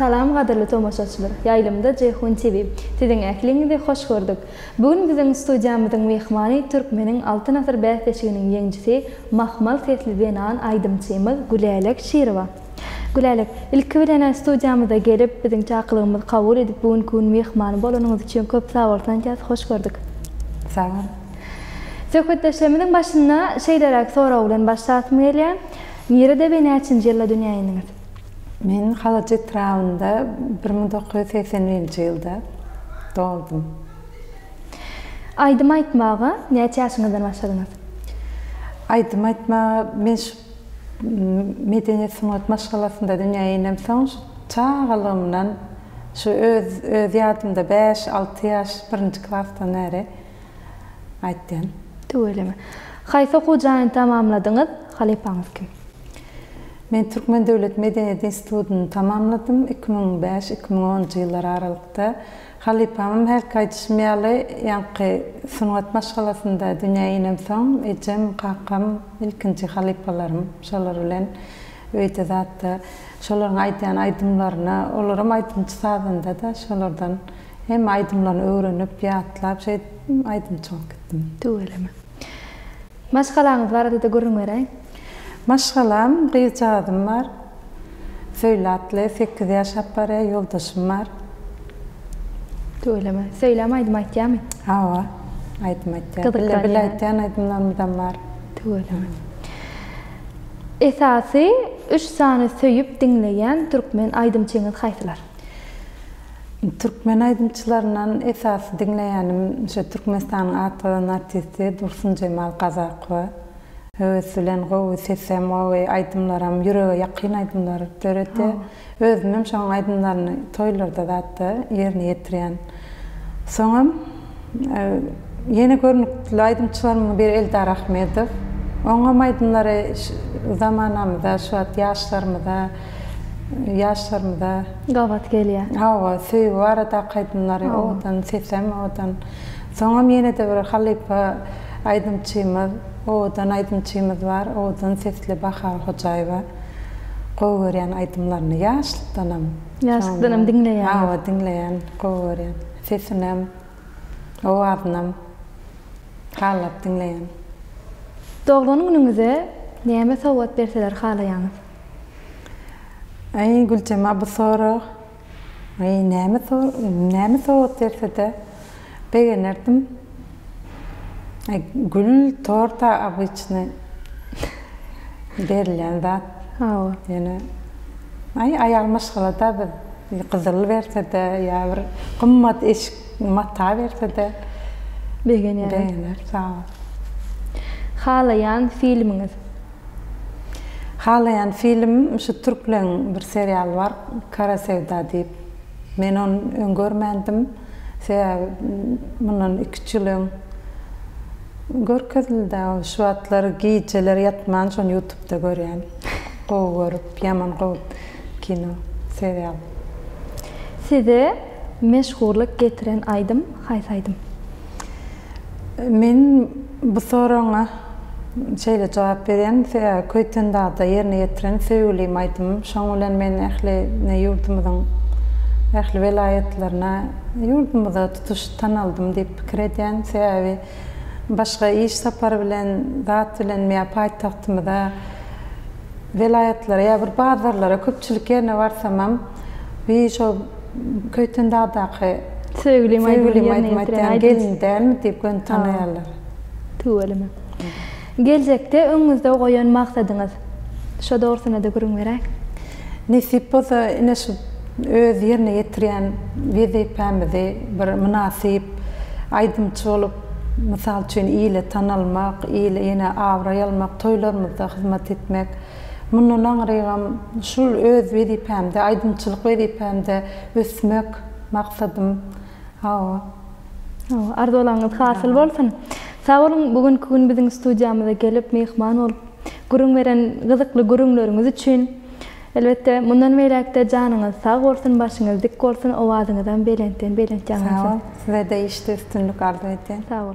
Salam gadyrly tomaşaçylar! Ýaýlymda Jeýhun TV. Siziň ähliňizi hoş gördük! Bu gün biziň studiýamyzyň myhmany Türkmeniň Altyn asyr bäsleşiginiň ýeňjisi, mahmal sesli zenan aýdymçymyz Gülälek Şirowa. Gülälek, ilki bilen-ä studiýamyza gelip, biziň çakylygymyzy kabul edip, bu günki gün myhmany bolanyňyz üçin köp sag bolsun aýdýas, hoş gördük! Sag bol! Söhbetdeşligimiziň başyna şeýleräk sorag bilen başlasym gelýär, Nirede we näçinji ýylda dünýä indiňiz? Men Halaç etrabynda bir müň dokuz ýüz segsen birinji ýylda doldum. Aýdym aýtmaga näçe ýaşyňyzdan başladyňyz? Aýdym aýtmaga men şu medeniýet sungat maşgalasynda dünýä inemsoň şu çagalygymdan şu öz öz ýadymda bäş alty ýaş birinji klasdan bäri Gaýtdym. Tüweleme. Haýsy okuw jaýyny tamamladyňyz? Halypaňyz kim? Men Türkmen döwlet medeniýet institutyny tamamladym, iki müň bäş, iki müň onunjy ýyllar aralykda. Halypamam hälki aýdyşym ýaly, ýaňky sungat maşgalasynda dünýä inemsoň, ejem, kakam ilkinji halypalarym. Şolar bilen öýde zatda şolaryň aýdýan aýdymlaryna, olaram aýdymçy-sazanda-da şolardan. Hemme aýdymlaryny öwrenip, ýatlap şeýdip aýdymçy bolup gitdim. Tüweleme. Maşgalaňyz barada-da gürrüň beräý. Maşgalam, gyzjagazym bar. Söýle atly, sekiz ýaşap barýar, ýoldaşym bar. Tüweleme. Söýläm aýdym aýtýarmy? Hawa, aýdym aýtýar. Gyzyklanýar. Bile-bile aýtýan aýdymlarymyzam bar. Tüweleme. Esasy üç sany söýüp diňleýän türkmen aýdymçyňyz haýsylar? Türkmen aýdymçylaryndan esasy diňleýänim şo Türkmenistanyň at gazan artisti Dursunjemal Kazakowa. Höwes bilen gowy sesem gowy aýdymlaram ýürege ýakyn aýdymlar döredýär. Özümem şoň aýdymlaryny toýlarda zatda ýerine ýetirýän. Soňam Ýene görnükli aýdymçylarymyň biri Eldar Ahmedow. Oňam aýdymlary zamanamyza, şu wagt ýaşlarymyza, ýaşlarymyza. Gabat gelýär. Hawa, söýgi baradaky aýdymlary owadan, sesem owadan. Soňam ýene-de bir halypa aýdymçymyz, owadan aýdymçymyz bar, owadan sesli Bahar Hojaýewa. Gowy görýän aýdymlaryny, ýaşlykdanam. Ýaşlykdanam diňleýäňiz. Hawa, diňleýän, gowy görýän. Sesinem, owazynam hallap diňleýän. Doglan günüňize näme sowgat berseler halaýaňyz? Aý Güljema bu sorag aý näme näme sowgat bersede begenerdim. Gül torta obyçny berilýän zat. Hawa. Ýöne aý aýal maşgalada biz gyzyl bersede ýa bir gymmat eşik mata bersede begenýäris. Begeneris hawa. Halaýan filmiňiz? Halaýan filmim şu türkleň bir serialy bar Kara Söwda diýip. Men ony öň görmändim. Sebäbi mundan iki-üç ýyl öň görkezildi-dä ol. Şu wagtlar gijeler ýatman şony ýutubda görýän. Gowy görüp, ýaman gowy kino serial. Size meşhurlyk getiren aýdym haýsy aýdym? Men bu soragyňa şeýle jogap berýän, sebäbi Köýtendagyda ýerine ýetiren söýgülim aýdymym, şoň bilen men ähli ne ýurdumyzyň ähli welaýatlaryna, ýurdumyza tutuş tanaldym diýip pikir edýän. Sebäbi başga iş sapary bilen, zat bilen ýa paýtagtymyza, welaýatlara ýa bir bazarlara köpçülik ýerine barsamam, bir şol. Köýten dagdaky Söýgülim aýdymyny ýerine ýetiren gelin dälmi diýip göni tanaýarlar. Tüweleme. Geljekde öňüňizde goýan maksadyňyz? Şo dogrusyna-da gürrüň beräý. Nesip bolsa ine şu öz ýerine ýetirýän wezipämizi bir mynasyp aýdymçy bolup, mysal üçin ile tanalmak, ile ýene abraý almak, toýlarymyzda hyzmat etmek. Mundan aňrygam şul öz wezipämde, aýdymçylyk wezipämde ösmek maksadym. Hawa. Hawa, arzularyňyz hasyl bolsun. Sag boluň, bu günki gün biziň studiýamyza gelip, myhman bolup, gürrüň beren gyzykly gürrüňleriňiz üçin. Elbetde, mundan beýläk-de janyňyz sag bolsun, başyňyz dik bolsun, owazyňyzam belentden-belent ýaňlansyn. Sizede işde üstünlik arzuw edýän. Sag boluň.